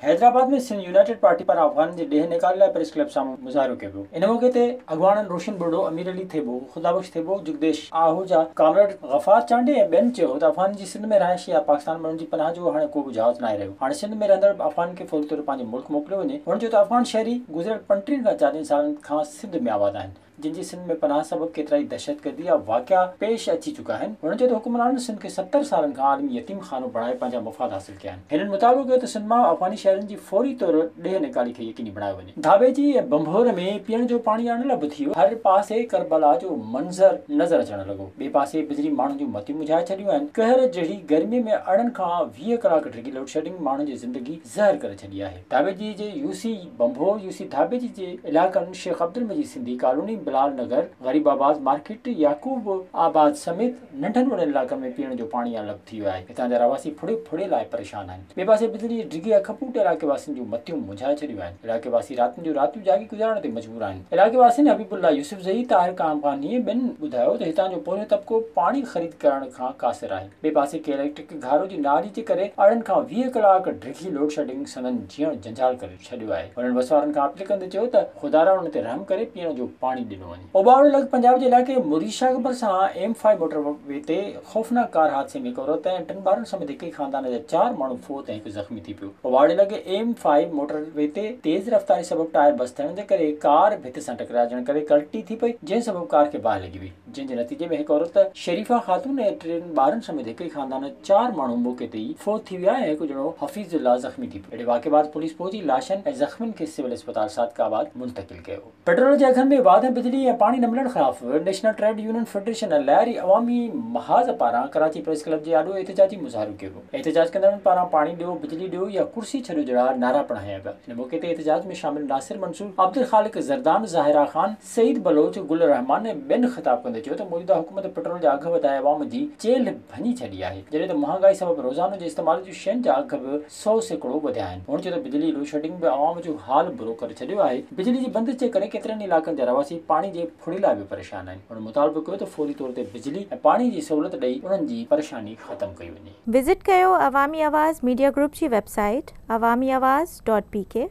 Hyderabad ۾ Sindh united party پاران افغانن جي ڏيهه نيڪال لاء پريس ڪلب سامهون مظاهرو ڪيو ويو ان موقعي تي اڳواڻن روشن ٻرڙو، امير علي ٿيٻو، خدا بخش ٿيٻو، جگديش آهوجا، ڪامريڊ غفار چانڊيي ۽ ٻين چيو ته افغانن جي سنڌ ۾ رهائش يا پاڪستان ۾ انهن جي پناهه جو هاڻي ڪوبه جهاز ناهي رهيو هاڻي سنڌ ۾ رهندڙ افغانن کي فوري طور پنهنجي ملڪ موڪليو وڃي هن چيو ته افغان شهري گذريل پنٽيهن کان چاليهن سالن کان سنڌ ۾ آباد آهن جن جي سنڌ ۾ پناهه سبب ڪيترائي دهشتگردي جا واقعا پيش اچي چڪا آهن. هنن چيو ته حڪمرانن سنڌ کي ستر سالن کان عالمي يتيم خانو بڻائي پنهنجا مفاد حاصل ڪيا آهن. هنن مطالبو ڪيو ته سنڌ مان افغاني شهرين جي فوري طور ڏيهه نيڪالي کي يقيني بڻايو وڃي. ڌاٻيجي ۽ ڀنڀور ۾ پيئڻ جو پاڻي اڻ لڀ ٿي ويو. هر پاسي ڪربلا جو منظر نظر اچڻ لڳو. ٻئي پاسي بجلي ماڻهن جون متيون مجهائي ڇڏيون آهن. قهر جهڙي گرمي ۾ ارڙهن کان ويهه ڪلاڪ ڊگهي لوڊشيڊنگ ماڻهن جي زندگي زهر ڪري ڇڏي آهي. ڌاٻيجي جي U C Bhambhore, U C Dhabeji جي علائقن Sheikh Abdulmajid Sindhi colony, Bilal Nagar, Gharibabad market, يعقوب آباد سميت ننڍن وڏن علائقن ۾ پيئڻ جو پاڻي الڳ ٿي ويو آهي، هتان جا رهواسي ڦڙي ڦڙي لاء پريشان آهن، ٻئي پاسي بجلي جي ڊگهي اک پوٽ علائقي واسين جون متيون منجهائي ڇڏيون آهن، علائقي واسي راتن جون راتيون جاڳي گذارڻ تي مجبور آهن، علائقي واسين حبيب الله يوسفزئي، طاهر ڪامغانيء ٻين ٻڌايو ته هتان جو پويون طبقو پاڻي خريد ڪرڻ کان قاصر آهي. ٻئي پاسي ڪي اليڪٽرڪ گهارو جي نااهلي جي ڪري ارڙهن کان ويهه ڪلاڪ ڊگهي لوڊشيڊنگ سندن جيئڻ جنجال ڪري ڇڏيو آهي، هنن وسوارن کان اپيل ڪندي چيو ته خدارا انهن تي رحم ڪري پيئڻ جو پاڻي ڏنو وڃي. اوڀاڻو لڳ پنجاب جي علائقي مري شاهه ڀرسان ايم فائو موٽر وي تي خوفناڪ ڪار حادثي ۾ هڪ عورت ۽ ٽن ٻارن سميت هڪ ئي خاندان جا چار ماڻهو فوت ۽ هڪ زخمي ٿي پيو. اوڀاڻي لڳ ايم فائو موٽر وي تي تيز رفتاري سبب ٽائر بس ٿيڻ جي ڪري ڪار ڀت سان ٽڪرائجڻ ڪري ڪلٽي ٿي پئي جنهن سبب ڪار کي باهه لڳي وئي. جنهن جي نتيجي ۾ هڪ عورت شريفه خاتون ۽ ٽن ٻارن سميت هڪ ئي خاندان جا چار ماڻهو موقعي تي ئي فوت ٿي ويا ۽ هڪ ڄڻو حفيظ الله زخمي ٿي پيو. اهڙي واقعي بعد پوليس پهچي لاشن ۽ زخمين کي سول اسپتال صادق آباد منتقل ڪيو. پيٽرول جي اگهن ۾ واڌ ۽ بجلي ۽ پاڻي نه ملڻ خلاف نيشنل ٽريڊ يونين فيڊريشن ۽ لهاري عوامي محاذ پاران ڪراچي پريس ڪلب جي آڏو احتجاجي مظاهرو ڪيو ويو. احتجاج ڪندڙن پاران پاڻي ڏيو، بجلي ڏيو يا ڪرسي ڇڏيو جهڙا نعرا پڻ هنيا ويا. ان موقعي تي احتجاج ۾ شامل ناصر منصور، عبدالخالق زردان، ظاهرا خان، سعيد بلوچ گل الرحمان ۽ ٻين خطاب ڪندي چيو ته موجوده حڪومت پيٽرول جا اگهه وڌائي عوام جي چيلهه ڀڃي ڇڏي آهي جڏهن ته مهانگائي سبب روزانو جي استعمال جون شين جا اگهه به سؤ سيڪڙو وڌيا آهن هن چيو ته بجلي لوڊشيڊنگ به عوام جو حال برو ڪري ڇڏيو آهي بجلي جي بندش جي ڪري ڪيترن ئي علائقن جا رهواسي پاڻي جي ڦڙي لاء به پريشان آهن هن مطالبو ڪيو ته فوري طور تي بجلي ۽ پاڻي جي سهولت ڏئي انهن جي پريشاني ختم ڪئي وڃي. وزٽ ڪيو عوامي آواز ميڊيا گروپ جي website Awami Awaz dot P ڪي.